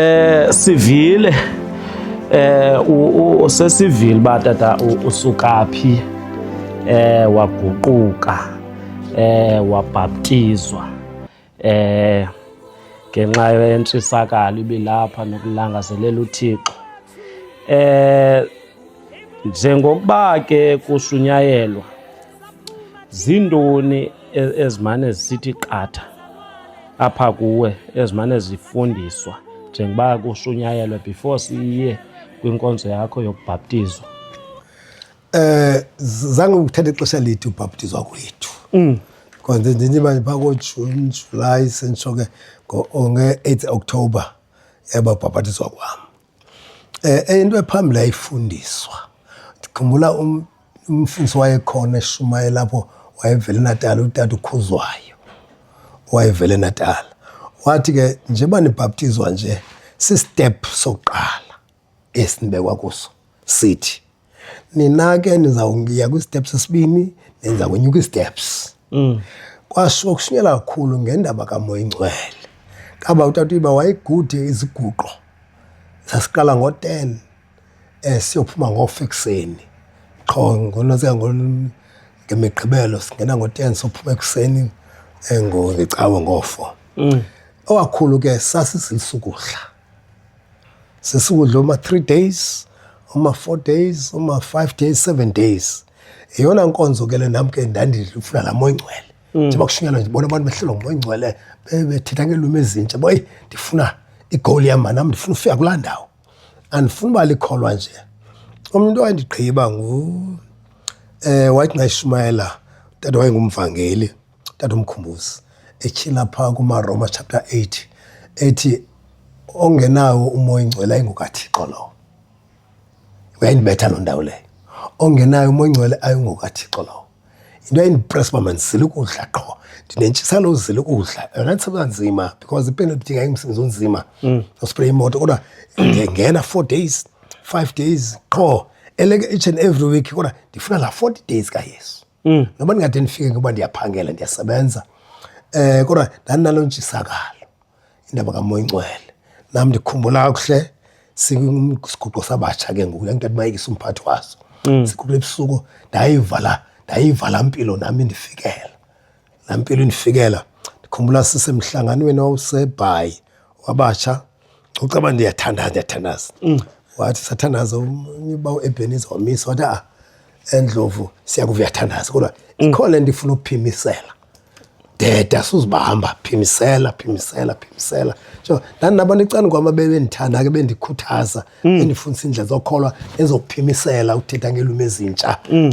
eh sivile eh usesivile ba tata usuka phi eh waguquka eh wabhaptizwa eh ngenxa yentshisakalo ibilapha nokulangazelela uThixo eh njengokuba ke kushunyayelwa Ziintoni e-, ezimane zisithi qatha apha kuwe ezimane zifundiswa njengoba kushunyayelwe before siye kwinkonzo yakho yokubhaptizwa? Eh zange ngithathe ixesha lide ubhaptizwa kwethu. Mm. Konze nje nje manje phako June, July sentsho ke ngo-8 October yaba ubhaptizwa kwami. Eh, into ephambili yayifundiswa. Ndikhumbula um, umfundisi wayekhona eshumayela apho wayevele Natal utata uKhuzwayo wayevele Natal. Wathi ke njengoba nibhaptizwa nje sistep sokuqala esinibekwa kuso sithi nina ke nizawuya kwi-step sesibini nenza kwenye kwi-steps mm. kwasho kushunyela kakhulu ngendaba kamoya ingcwele kaba utata uyiba wayegudi iziguqo sasiqala ngo-ten um eh, siyophuma ngofa ekuseni qho ngonosika ngemigqibelo singena ngo-ten sophuma ekuseni um eh, ngecawe ngofo mm. owakhulu ke sasizilisukuhla sesikudla uma-three days uma-four days uma-five days seven days yeyona nkonzo ke le nam ke ndandifuna laa moya ingcwele mm. njengoba kushunyelwa ndibona abantu behlelwa ngumoya ingcwele bethetha ngeelwimi ezintsha boyi ndifuna igowuli yam manam ndifuna ufika kulaa ndawo andifuni uba likholwa nje umntu owandigqiba ngu um wathi ngayishumayela utata wayengumvangeli tatomkhumbuzi etyhila phaa kumaroma chapter 8 ethi ongenawo umoya ingcwele ayingokathixo lowo uyayindibetha loo ndawo leyo ongenayo umoya ingcwele ayingokathixo lowo into ayindipress uba mandizile ukudla qho ndinentshisana uzile ukudla yona ndisebenza nzima because ipenalty ngayimsebenzi onzima mm. ospraye imoto kodwa ndingena four days five days qho eleke each and every week kodwa ndifuna la forty days kayesu mm. noba ndingade ndifike ngoba ndiyaphangela ndiyasebenza um kodwa ndandinalo ntshisakalo indaba kamoya ingcwele nam ndikhumbula kakuhle siguqo sabatsha ke ngoku yanto ndimayekisa umphathi waso mm. siguqule ebusuku ndayivala ndayivala mpilo nam indifikela Laa mpilo indifikela ndikhumbula sisemhlanganweni owawusebhayi wabatsha ucaba ndiyathandaza ndiyathandaza mm. wathi sathandaza uba uebheniza wamisa wathi a ah, endlovu siyakuva uyathandaza kodwa mm. ikho le nto ifuna ukuphimisela deda suzibahamba phimisela phimisela phimisela so ndandinabantu ecani kwam abebendithanda ke bendikhuthaza mm. enifundisa indlela zokholwa ezokuphimisela ukuthetha ngeelwimi ezintsha mm.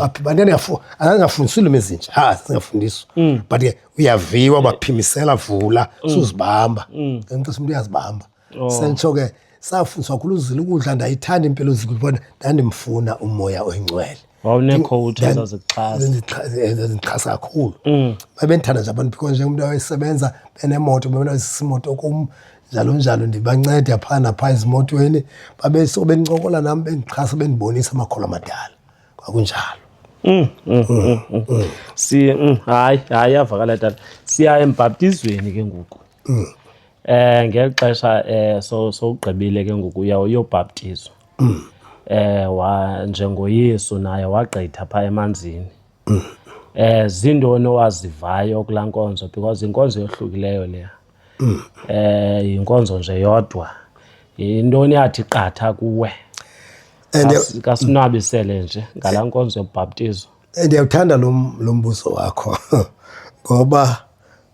angafundisa iilwimi ezintsha ha singafundiswa mm. but ke uyaviwa baphimisela vula suzibamba ngenxisa umntu uyazibamba oh. sentsho ke safundiswa khulu uzila ukudla ndayithanda impilo zikubona ndandimfuna umoya oyingcwele wawunekhowuthi Then- ezazikuxhasa zindixha- eh, zindixhasa kakhulu Mm. babendithanda nje abantu because njengomntu awayesebenza benemoto bebenazisimoto kum njalo njalo ndibanceda phaa naphaa ezimotweni babeso bencokola nam bendixhasa bendibonisa amakholo amadala kwakunjalo Mm, mm, mm, mm, mm. si mm, hayi hayi yavakala tata siya embhaptizweni ke ngoku um ngeli xesha um sowugqibile ke ngoku uya uyobhaptizwa um njengoyesu naye wagqitha phaa emanzini um ziintoni owazivayo kulaa nkonzo because yinkonzo yohlukileyo leya um yinkonzo nje yodwa yintoni yathi qatha kuwe kasinwabisele nje ngalaa nkonzo yobhaptizo eh, ndiyawuthanda lo mbuzo wakho ngoba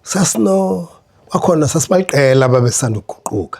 sasino kwakhona sasibaliqela babesanduguquka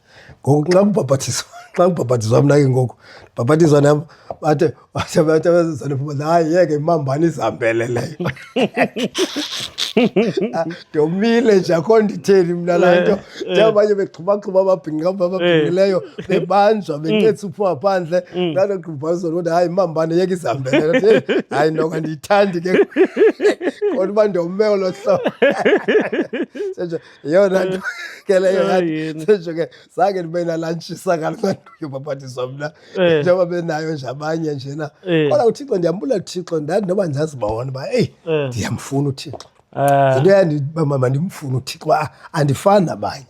ngoku xa kubhabhathizwa xa kubhabhathizwa mna ke ngoku ndibhabhathizwa nam bathe bathe bathe abazizane phuma hayi yeke imambani izihambele leyo ah, ndomile nje akho nditheni mna laa nto njengabanye begxubaxhuba ababhinqa ababhinqileyo bebanjwa bencetsa uphuma phandle ndalo mm. kubhazwa loo nto hayi imambani yeke izihambele hayi noka ndiyithandi ke kodwa uba ndombe olo hlobo Yo, na eh. kele yo ya. Sesho ke sake nibe na lunch saka manje yobaphathiswa mna. Eh. Njengoba benayo nje abanye nje na. Eh. Kodwa uThixo ndiyambula uThixo ndathi noba ndizazibona ba hey ndiyamfuna uThixo. Ah. Into yandi mama mandimfuna uThixo andifani nabanye.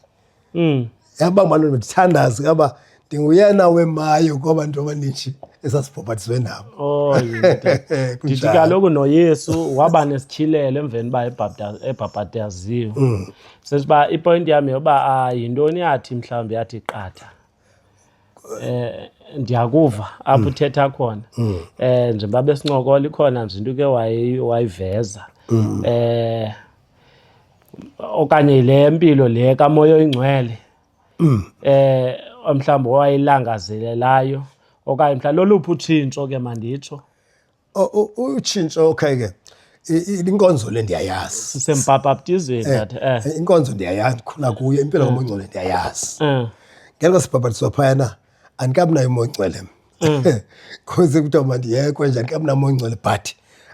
Mm. yaba maloo ndithandazi kaba ndinguyena wemayo kwaba nto abaninji esasibhobhatiswe nabo oh, ndithi kaloku noyesu waba nesityhilelo emveni uba ebhabhataziwe mm. sesithi uba ipointi yam yoba ah, yintoni yathi mhlawumbi yathi qatha eh ndiyakuva apho mm. uthetha khona mm. eh njengoba besincokola ikhona nje into ke wayiveza mm. eh okanye le mpilo le kamoya oyingcwele mm. eh mhlawumbi owayilangazelelayo okanye mhlawumbi loluphi utshintsho ke manditsho utshintsho okay ke inkonzo le ndiyayazi sisembhabhaptizweni eh, that eh, eh inkonzo ndiyayazi ndikhula kuyo impilo eh. kamongcwele ndiyayazi eh ngelo sibhabhatiswa phayana andikabinayo umoncwele mm. kuze kuthiwa mandiyekwe nje andikabinamoncwele but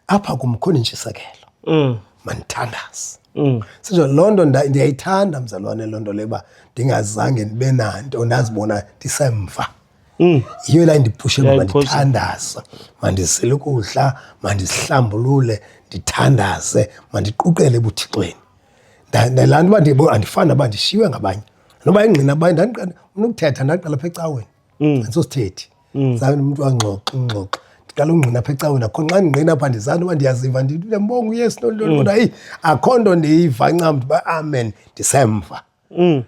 apha kumkhona intshisekelo mm. mandithandaze mm. sinje loo nto ndiyayithanda mzalwane loo nto leba ndingazange ndibe nanto ndazibona ndisemva Mm. yiyo la ndipushe uba mandithandaze mandizile ukudla mandizihlambulule ndithandaze mandiquqele ebuthixweni ndalaa nto uba andifani uba ndishiywe ngabanye noba ingqina baye ndandikana unokuthetha ndaqala pha ecaweni andisosithethi mm. zange mm. umntu angxoxe ungxoxe ndiqala ungqina apha ecaweni akho nxa ndingqina apha ndizani uba ndiyaziva ndiyambonga uyesu noliloni mm. kodwa eyi akho nto ndiyiva ncam ndiba amen ndisemva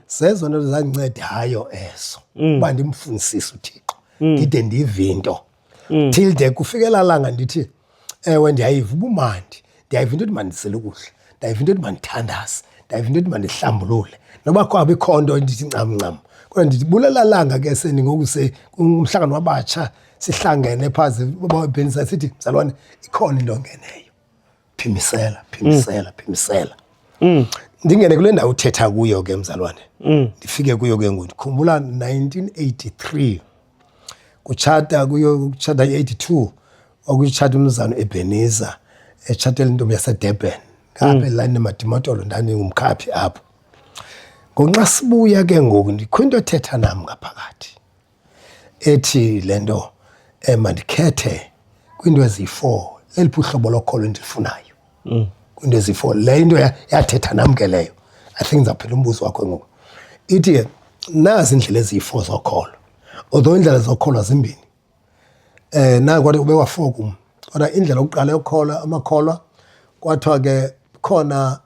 zezo nto zandinceda hayo eso uba ndimfunisise uthixo ndide ndive into mm. till de kufikela langa ndithi ewe ndiyayiva ubumandi ndiyayiva into yothi mandisele ukudla ndiyayiva into yothi mandithandaze ndiyayiva into yothi mandihlambulule noba kwabe ikho nto endithi ncamncam kodwa ndithi bulela langa ke seni ngoku se umhlangano wabatsha sihlangene phaa bhenisa sithi mzalwane ikhona into ongeneyo phimisela phimisela phimisela mm. ndingene kule ndawo uthetha kuyo ke mzalwane mm. ndifike kuyo ke ngoku ndikhumbula 1983 kutshata kuyo kutshata i-82 okutshata umzano ebheniza etshatela intombi yasedurban ngapha mm. elani nemadimotolo ndandingumkhaphi apho ngonxa sibuya ke ngoku ndikho into ethetha nam ngaphakathi ethi le nto um mandikhethe kwiinto eziyi-four leliphi uhlobo lokholo endilufunayo mm. kwiinto eziyi-four le into yathetha nam ke leyo i think ndizawuphela umbuzo wakho ngoku ithi ke nazi iindlela eziyi-four zokholo although iindlela zokholo zimbini um eh, nayo kwathi ube wafokum kodwa indlela yokuqala yokholwa amakholwa kwathiwa ke khona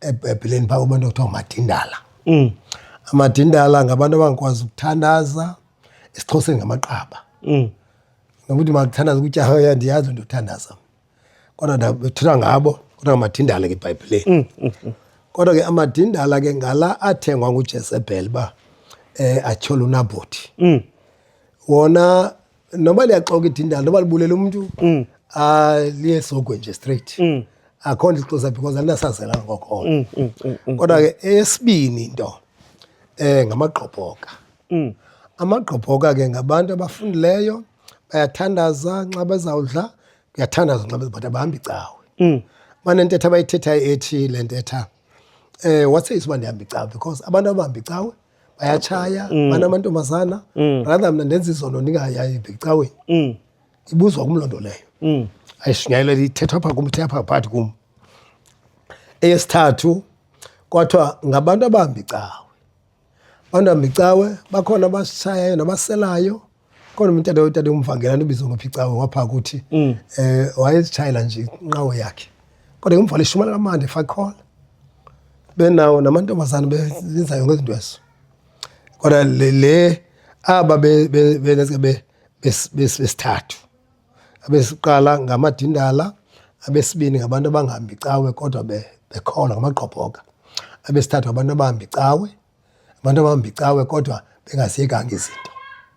ebhayibhileni phaa kubantu kuthiwa amadindala mm. amadindala ngabantu abangakwazi ukuthandaza esixhoseni ngamaqaba mm. nokuthi makuthandaza ukuthi ahoya ndiyazi ndiyothandaza kodwa ndabethethwa ngabo kodwa ngamadindala ke ebhayibhileni mm, mm, mm. kodwa ke amadindala ke ngala athengwa ngujezebhele uba um eh, atyhole unabothi mm. wona noba liyaxoka idindala noba libulele umntu mm. ah, liye sogwe nje straight mm. akho nto ixosa because alinasazela ngokona mm, mm, mm, mm, kodwa ke esibini into um ngamagqobhoka mm. amagqobhoka ke ngabantu abafundileyo bayathandaza nxa bezawudla kuyathandaza nxa bezibhata bahambi cawe mm. banentetha abayithethayo ethi le ntetha um eh, watseyisa uba ndihamba icawe because abantu abahamba icawe bayatshaya mm. bana amantombazana mm. rather mna ndenza izono ndingayayi ndicaweni mm. ibuzwa kum loo nto leyo mm. ayishunyayelwa ithethwa pha kum ithetha pha phakathi kum eyesithathu kwathiwa ngabantu abambi cawe abantu bambi cawe bakhona abasishayayo nabaselayo Kodwa umtata utata umvangela ndibizo ngophi cawe wapha kuthi mm. eh wayezitshayela nje inqawo yakhe. Kodwa umvale shumana kamande fakhola. Benawo namantombazana bezinzayo ngezinto ezo. Kodwa le le aba be be be besithathu. Abesiqala ngamadindala abesibini ngabantu abangahambi cawe kodwa bekhola ngamagqobhoka abesithathu abantu abahambi cawe abantu abambicawe kodwa bengaziyekanga izinto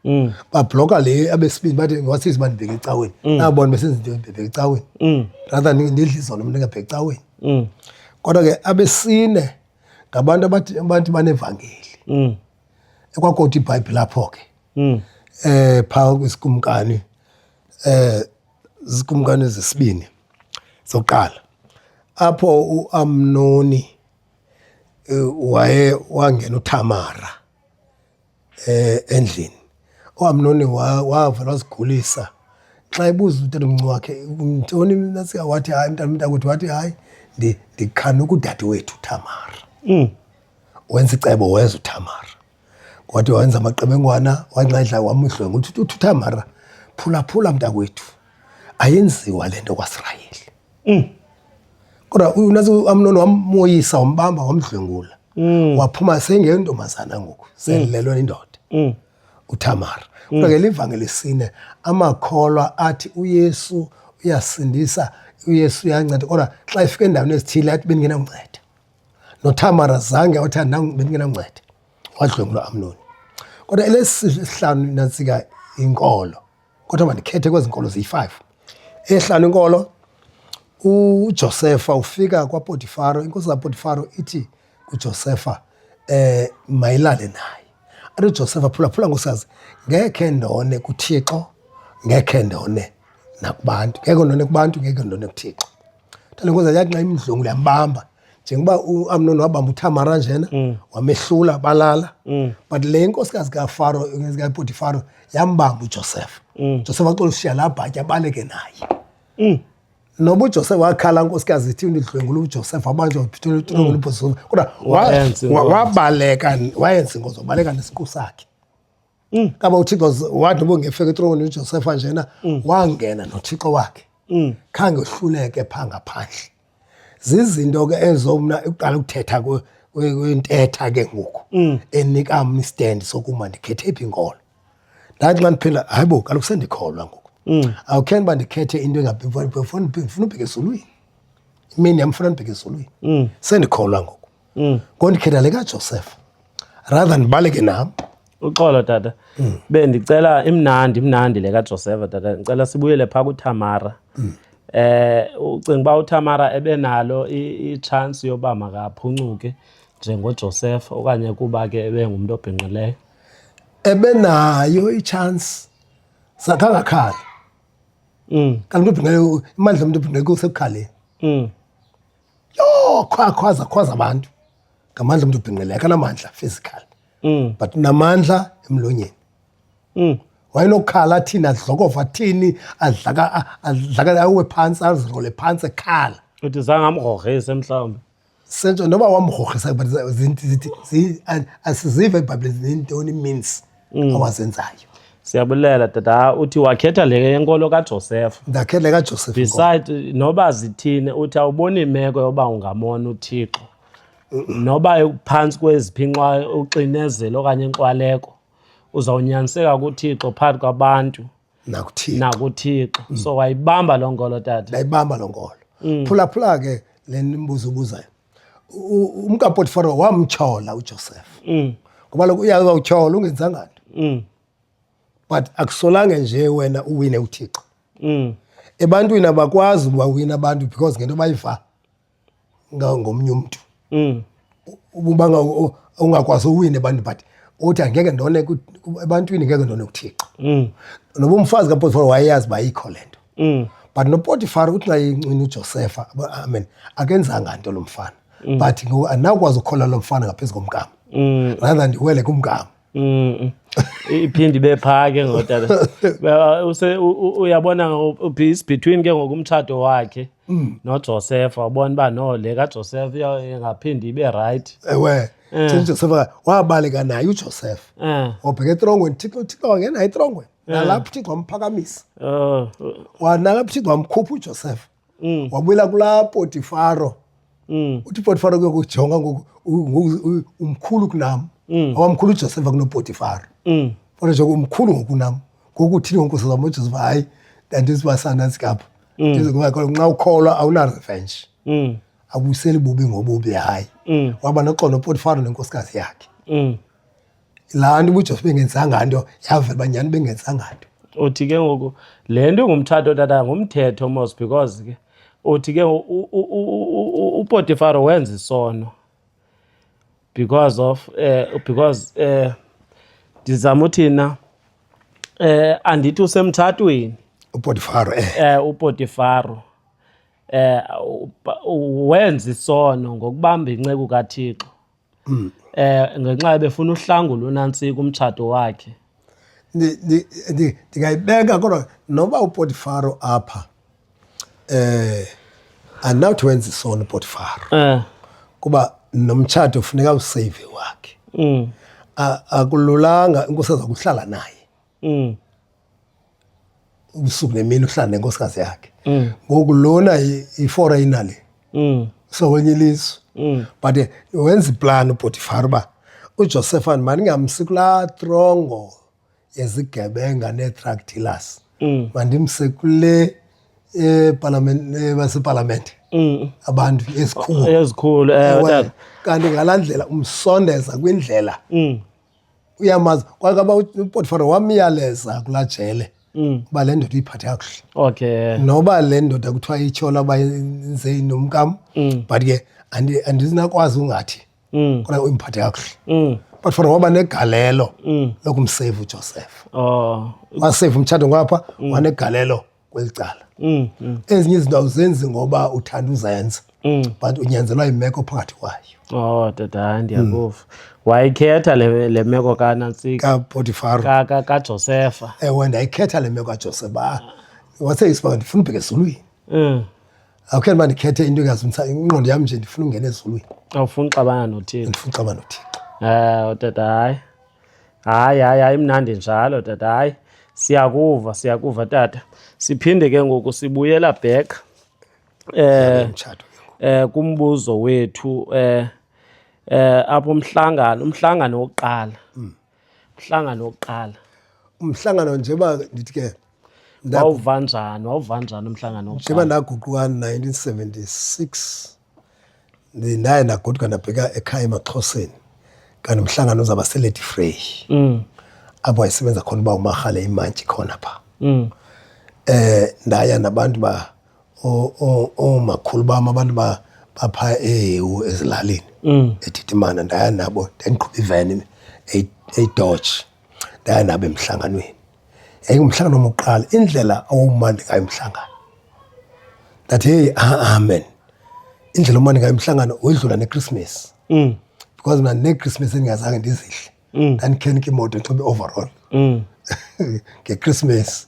mm. babhloka le abesibini bathi wasisi uba ndibheke ecaweni mm. nabona besenza into ndibheke ecaweni mm. rather ndidla izolo mntu ndingabheke ecaweni kodwa ke abesine ngabantu abathi banevangeli ekwakoti ibhayibhile apho ke um phaa kwisikumkani um zikumkani zesibini zokuqala apho uamnoni eh, waye wangena uThamara eh endlini uAmnoni wavela wazigulisa xa ebuza umntana omncinci wakhe mntoni nasika wathi hayi mntana mntakwethu wathi hayi ndikhana ukudade wethu uThamara mm. wenza icebo weza uThamara Wathi wenza amaqebengwana wanxedla wamudlwenga ukuthi uthutha mara phulaphula mntakwethu ayenziwa le nto kwaSirayeli mm. kodwa unazi uamnoni wamoyisa wambamba wamdlwengula mm. waphuma sengentombazana ngoku selilelwe mm. indoda mm. utamara mm. kodwa ke livangeli sine amakholwa athi uyesu uyasindisa uyesu uyanceda kodwa xa ifika endaweni ezithile athi bendingenamnceda noThamara zange wathi bendingenanceda wadlwengulwa Amnoni. Kodwa elesihlanu nantsika inkolo kodwa mandikhethe kwezi nkolo ziyi-five ehlanu inkolo uJosefa ufika kwaPotifaro, inkosi kaPotifaro ithi kuJosefa eh mayilale naye. Athi uJosefa phula phula nkosazi ngekhe ndone kuThixo, ngekhe ndone nakubantu. Ngeke ndone kubantu, ngeke ndone kuThixo. Talengoza yathi nxa imdlwengula yambamba njengoba uAmnon wabamba uThamara njena mm. wamehlula balala mm. but le nkosikazi kaFaro kaPotifaro yambamba uJoseph mm. Joseph waxola ushiya la bhatya abaleke naye mm. noba uJoseph wakhala nkosikazi ithi undidlwengula uJoseph wabanjwa uphithula uThulungulu mm. uBhusulu kodwa wabaleka wayenza ingozi wabaleka nesiqu sakhe mm. kaba uthixo wathi ubongefeka etroni ujosefa njena mm. wangena nothixo wakhe mm. khange uhluleke phaa ngaphandle zizinto ke ezo mna uqala ukuthetha kwentetha ke ngoku mm. enika mna istand sokuma ndikhethe phi inkolo ndathi xa ndiphela hayi bo kaloku sendikholwa ngoku mm. awukheni uba ndikhethe into engafuna ubheke ezulwini imini yam funa ndibheke ezulwini mm. sendikholwa ngoku mm. ngoku ndikhetha le kaJoseph rather than ndibaleke nam uxolo tata mm. bendicela imnandi imnandi le kaJoseph tata ndicela sibuyele phaa kuThamara mm. eh ucinga uba uThamara ebenalo i-chance yoba makaphuncuke njengoJoseph okanye kuba ke ebengumntu obhinqileyo ebenayo i-chance sakhangakhala mm. kanti umntu obhinqileyo imandla omntu obhinqileyo kusekukhaleni mm. yho khwa khwaza khwaza abantu ngamandla umntu ubhinqile akanamandla physical mm. but namandla emlonyeni mm. wayenokhala athini adlokova athini adlaka adlaka awe phantsi azirole phantsi ekhala uthi zange amgrogrhise mhlawumbi sentsho noba wamgrogrhisa but zithi asizive ebhayibhileni zintoni means mm. awazenzayo siyabulela tata uthi wakhetha le yenkolo kajosefa ndakhetha le kajosefa beside noba zithini uthi awuboni imeko yoba ungamona uthixo noba phantsi kweziphi uxinezelo okanye inxwaleko uzawunyaniseka kuthixo phakathi kwabantu nakuthixo nakuthixo mm. so wayibamba loo ngolo tata ndayibamba loo ngolo mm. phulaphula ke le mbuzo ubuzayo umkapotifaro wamtyhola ujosefa mm. ngoba loku uyaza utyhola ungenzanga nto mm. but akusolange nje wena uwine uthixo mm. ebantwini abakwazi ubawina abantu because ngento bayiva ngangomnye umntu mm. uba ungakwazi uwine abantu but uthi angeke ndone ebantwini ngeke ndone kuthixo mm. noba umfazi kapotifar wayeyazi uba yikho le nto mm. but nopotifar uthi xa yincwini ujosefa amen akenzanga nto lo mfana mm. but ngoku andinawukwazi ukukhola lo mfana ngaphezu komgama mm. rather ndiwele kumgama Mm. iphinde ibe phaa ke ngoku tata Use- u- u- uyabona ngoku uphi is between ke ngoku umtshato wakhe Mm. nojosefa wabona uba no le kajosefa iya- ingaphinde ibe rayithi ewe Eh. Thixo uJosefa wabaleka naye uJoseph um wabheka etrongweni Thixo Thixo wangena etrongweni nalapho Thixo wamphakamisa um wanalapho Thixo wamkhupha uJoseph mm. wabuyela kulaa potifaro mm. uthi potifaro ke kujonga ngoku umkhulu kunam mm. awamkhulu ujosefa kunopotifaro mm. kodwa njengoba umkhulu ngokunam ngoku thini ngonkosi zam ujosefa hayi ndandizibasana zikapha mm. ndizingoba nxa ukholwa awunarevenge mm. abuyiseli bubi ngobubi hayi mm. waba noxolo upotifaro nenkosikazi yakhe mm. laa nto ubujos bengenzanga nto yavela uba nyhani bengenzanga nto uthi ke ngoku le nto ingumtshato tata ngumthetho mos because ke uthi ke upotifaro wenza isono because of eh, because eh, ndizama uthina eh, andithi usemtshatweni upotifaro eh. eh, upotifaro eh wenza isono ngokubamba inceku kaThixo um ngenxa ebefuna uhlangu lunantsi kumtshato wakhe ndingayibeka kodwa noba upotifaro apha um andinawuthi wenza isona upotifaro eh. kuba nomtshato funeka useyive wakhe mm. akululanga inkosi aza kuhlala naye mm. ubusuku nemini uhlala nenkosikazi yakhe mm. ngoku lona iforeyina le mm. so wenye ilizwe mm. but eh, wenza iplan upotifar uba ujosefan mandingamsi kulaa trongo yezigebenga nee-truck dealers mandimse kule eh, eh, basepalamente abantu ezikhulu kanti ngalaa ndlela umsondeza kwindlela uyamazi kwakaba upotifaro wamyaleza kulaa jele Mm. uba le ndoda uyiphathe kakuhle okay noba le ndoda kuthiwa ityhola uba yenze nomkam Mm. but ke andi- andinakwazi ungathi Mm. kodwa uyimphathe kakuhle Mm. but for waba negalelo Mm. lokumseyva ujoseph oh waseyva umtshato ngapha wanegalelo kweli cala mm, mm. ezinye izinto awuzenzi ngoba uthanda uzenza mm. but unyanzelwa yimeko phakathi kwayo o oh, tata mm. ndiyakuva mm. wayikhetha le, le meko kanantsikapotifaro kajosefa ka, ewe ndayikhetha le meko kajosefa waseyisibanga ndifuna ubheka ezulwini mm. awukhetha uba ndikhethe into engazumisa ingqondo yam nje ndifuna ungena ezulwini awufuni uxabana nothixo ndifuna uxabana nothixo um eh, tata hayi hayi hayi hayi mnandi njalo tata hayi siyakuva siyakuva tata siphinde ke ngoku sibuyela back eh eh kumbuzo wethu eh eh apho umhlangano umhlangano wokuqala mm. umhlangano wokuqala umhlangano nje ba ndithi ke wawuva njani wawuva njani umhlangano wokuqala njengoba ndaguquka 1976 ndaye ndagoduka ndabheka ekhaya emaxhoseni kanti umhlangano uzawuba seledi frey mm. apho wayesebenza khona uba umarhale imantshi khona pha um ndaya nabantu ba oomakhulu bam abantu bapha ehewu ezilalini mm. ethithimana ndaya nabo ndandiqhuba iveni eyidotshi ndaya nabo emhlanganweni yayingumhlangano wokuqala indlela owawumandi ngayo umhlangano ndathi heyi amen indlela omandi ngayo umhlangano wedlula nekrismesi mm. because mna nekrismesi endingazange ndizihle mm. ndandikhenike imoto ndixhobe overall mm. ngekrismesi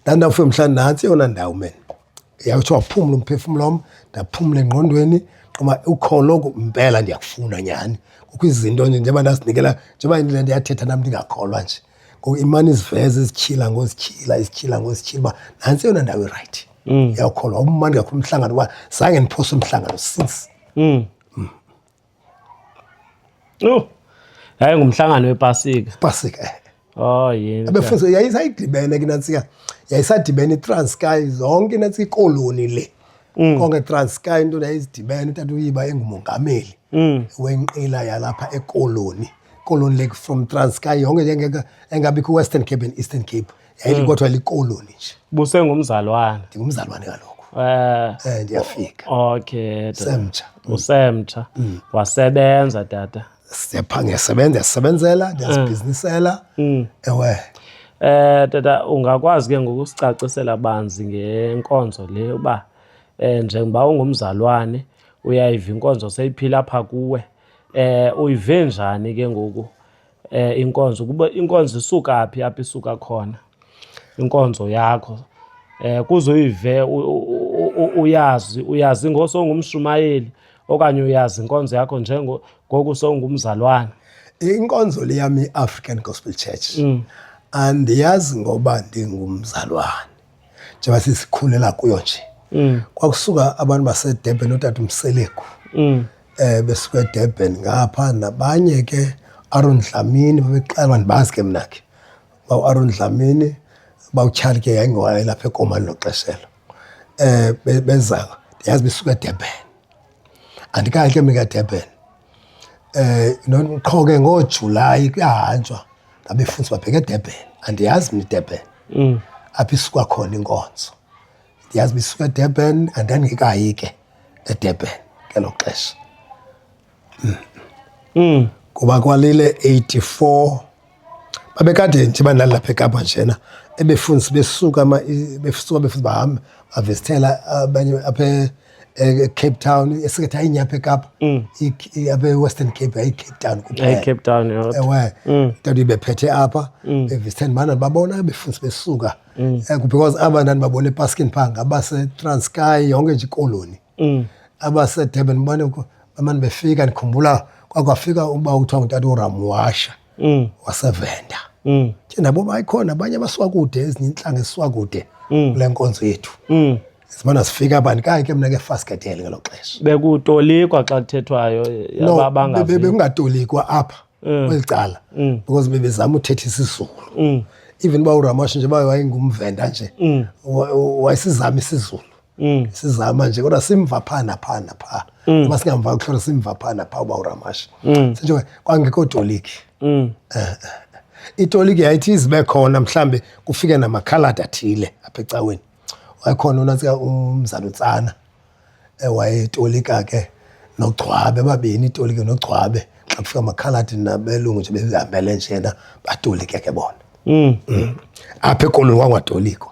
ndandawufika mhlawumbi nantsi eyona ndawo men yawuthi waphumla umphefumlo wam ndaphumla engqondweni qoma ukholo mpela ndiyakufuna nyhani kukho izinto nje njengoba ndazinikela njengoba ndiyathetha nam ndingakholwa nje Ngoku imane iziveze izityhila ngozityhila izityhila ngozityhila uba nantsi eyona ndawo irayithi mm. yawukholwa umandi kakhulu umhlangano uba zange ndiphose umhlangano since mm. Mm. yho yaye ngumhlangano wepasika pasika eh. oh, abefunza yayisayidibene ke nantsika yayisadibene itransky zonke nantsika ikoloni le Mm. konke transcar into yayizidibene utata uyiba engumongameli mm. wenqila yalapha ekoloni colon lake from transkay yonke yengeke engabi kwi-western cape and eastern cape yayilikodwa mm. likoloni nje busengumzalwana ndingumzalwane kaloku Eh, eh ndiyafika okay semtsha mm. usemtsha mm. wasebenza tata siyapha ngiyasebenza yasebenzela mm. ndiyazibhizinisela ewe eh tata ungakwazi ke ngokusicacisela banzi ngenkonzo le uba eh njengoba ungumzalwane uyayiva inkonzo seyiphila apha kuwe Eh uyive njani ke ngoku eh inkonzo kuba inkonzo isuka phi apha isuka khona inkonzo yakho eh kuzoyive uyazi uyazi ngosongumshumayeli okanye uyazi inkonzo yakho njengo ngoku songumzalwana inkonzo le yam i-african gospel church mm. andiyazi ngoba ndingumzalwana njengoba sisikhulela kuyo nje mm. kwakusuka abantu basedurban utata umseleku mm. eh besuka edurban ngapha nabanye ke aron dlamini babexelwa ndibazi ke mna ke bawuaron dlamini bawutyhali ke yayingowayelapha ekomani loxeshelo um eh, bezayo ndiyazi besuka edurban andikayi ke mikadurban um eh, qho ke ngoojulayi kuyahanjwa ngabefundisi babheke edurban andiyazi mna idurban mm. apho isuka khona inkonzo ndiyazi uba isuka edurban andandingekayi ke edurban ngelo xesha mm. mm. kuba kwalile 84 babekade nje bandalapha ekapa njena ebefundisa besuka besuka befundisa bahambe bavesithela abanye apha ecape town esingathi ayinye apha ekapa mm. apha ewestern cape ayicape town kuphelacape town ewe mm. ntanto ibephethe apha mm. bevesithela bana babona befundisa besuka eh, because aba ndandibabona epaskini phaa ngabasetransky yonke nje ikoloni mm. abasedurban bane bamane befika ndikhumbula kwakwafika uba kuthiwa ngutata uramwasha mm. wasevenda mm. ke nabo bayikhona abanye abasuka kude ezinye intlanga esisuka kude mm. kule nkonzo yethu mm. simane sifika abantu kaye ke mna ke faskedele ngelo xesha bekutolikwa xa kuthethwayo no, bekungatolikwa apha mm. kweli cala mm. because bebezama uthetha isizulu mm. even uba uramasha nje uba wayengumvenda nje mm. wayesizama isizulu mm. sizama nje kodwa simva phaa naphaa naphaa mm. uba singamva kuhlolo simva phaa naphaa uba uramashi mm. sinje kwangekho toliki mm. uh, itoliki yayithi izibe khona mhlawumbi kufike namakhaladi athile apha ecaweni wayekhona unatsika umzalutsana ewayetolika ke nogcwabe babini itoliki nogcwabe xa kufika amakhaladi nabelungu nje behambele njena batolike ke bona mm. mm. apha ekolweni kwangwatoliko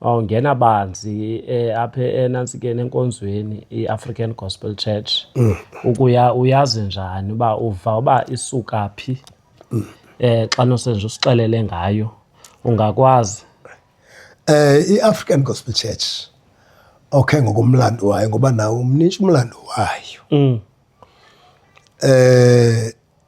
wawungena banzi eh, apha enantsikeni enkonzweni i-african gospel church mm. ukuya uyazi njani uba uva uba isuka phi mm. eh xa nosenje usixelele ngayo ungakwazi eh i-african gospel church okay ngokomlando wayo ngoba nawo umnintsha umlando wayo mm. eh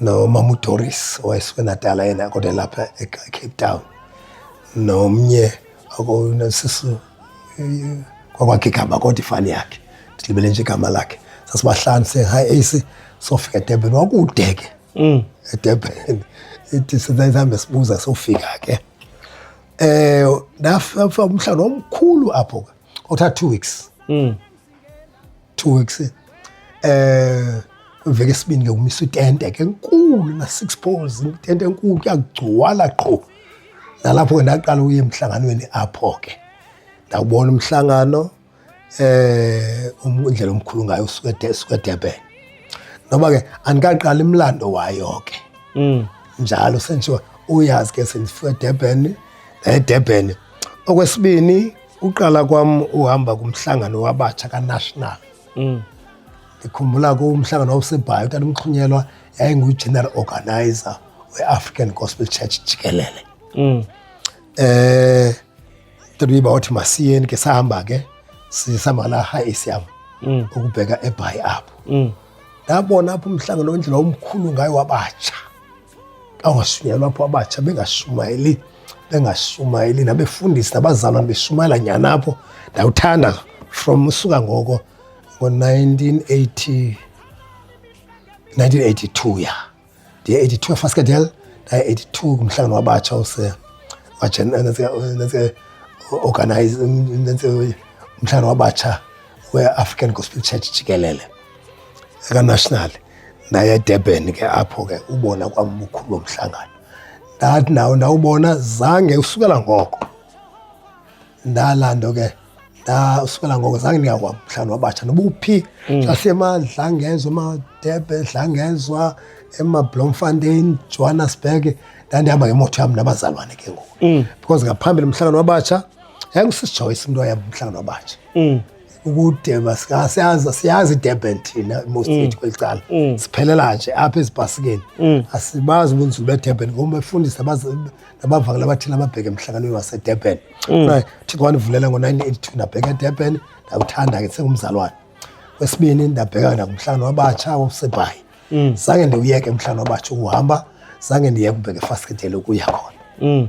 nomama uDoris wayesebenadala yena kodwa lapha eCape Town nomnye akonasisu kwakwakhe igama kodwa ifani yakhe ndilibele nje igama lakhe sasibahlanu sehayi esi sofika edurban wakude ke mm. edurban ithi sihambe sibuza sofika ke um ndafa umhlawumbi omkhulu apho ke othatha two weeks mm. two weeks um eh, kwiveki esibini ke kumisa itente ke nkulu na-six poles itente enkulu kuyagcwala qho nalapho ke ndaqala uye emhlanganweni apho ke ndawubona umhlangano um indlela omkhulu ngayo usuke edurban noba ke andikaqala imlando wayo ke mm. njalo senjiwa uyazi ke sendifika edurban edurban okwesibini Uqala kwam uhamba kumhlangano wabatsha kanational mm. ndikhumbula kumhlangano wawusebhayo tata umxhunyelwa yayingugeneral organizer we-african gospel church jikelele um eh, tatuyiba wathi masiyeni ke sahamba ke sisihamba la high esiam mm. ukubheka ebhayi apho mm. ndabona apho umhlangano wendlela omkhulu ngayo wabatsha Xa ungashunyayelwa apho abatsha bengashumayeli bengashumayeli nabefundisi nabazalwana beshumayela nyhani apho ndawuthanda from usuka ngoko ngo-1980 1982 ya ndiye 82 efaskadel ndaye 82 kumhlangano wabatsha use organize umhlangano wabatsha we-african gospel church jikelele ekanational ndaye edurban ke apho ke ubona kwam ubukhulu bomhlangano ndathi nawo ndawubona zange usukela ngoko ndala nto ke ndasukela ngoko zange ndingakwam mhlawumbi wabatsha noba uphi mm. sasemadlangezwa emadebe dlangezwa emablomfontein johannesburg ndandihamba ngemoto yam nabazalwane ke ngoku mm. because ngaphambili mhlangano wabatsha yayingusisijoyce umntu wayehamba umhlangano wabatsha mm. ukude siyazi siyazi idurban thina most mm. ethu kweli cala mm. siphelela nje apha ezibhasikeni mm. asibazi ubunzulu bedurban ngoba befundisa nabavakela abathile ababheke emhlanganweni wasedurban thixo wandivulela ngo-1982 ndabheka edurban ndawuthanda ke sengumzalwane wesibini ndabheka nakumhlangano wabatsha wosebhayi zange ndiwuyeke umhlangano wabatsha ukuhamba zange ndiyeke ubheke efasiketele ukuya khona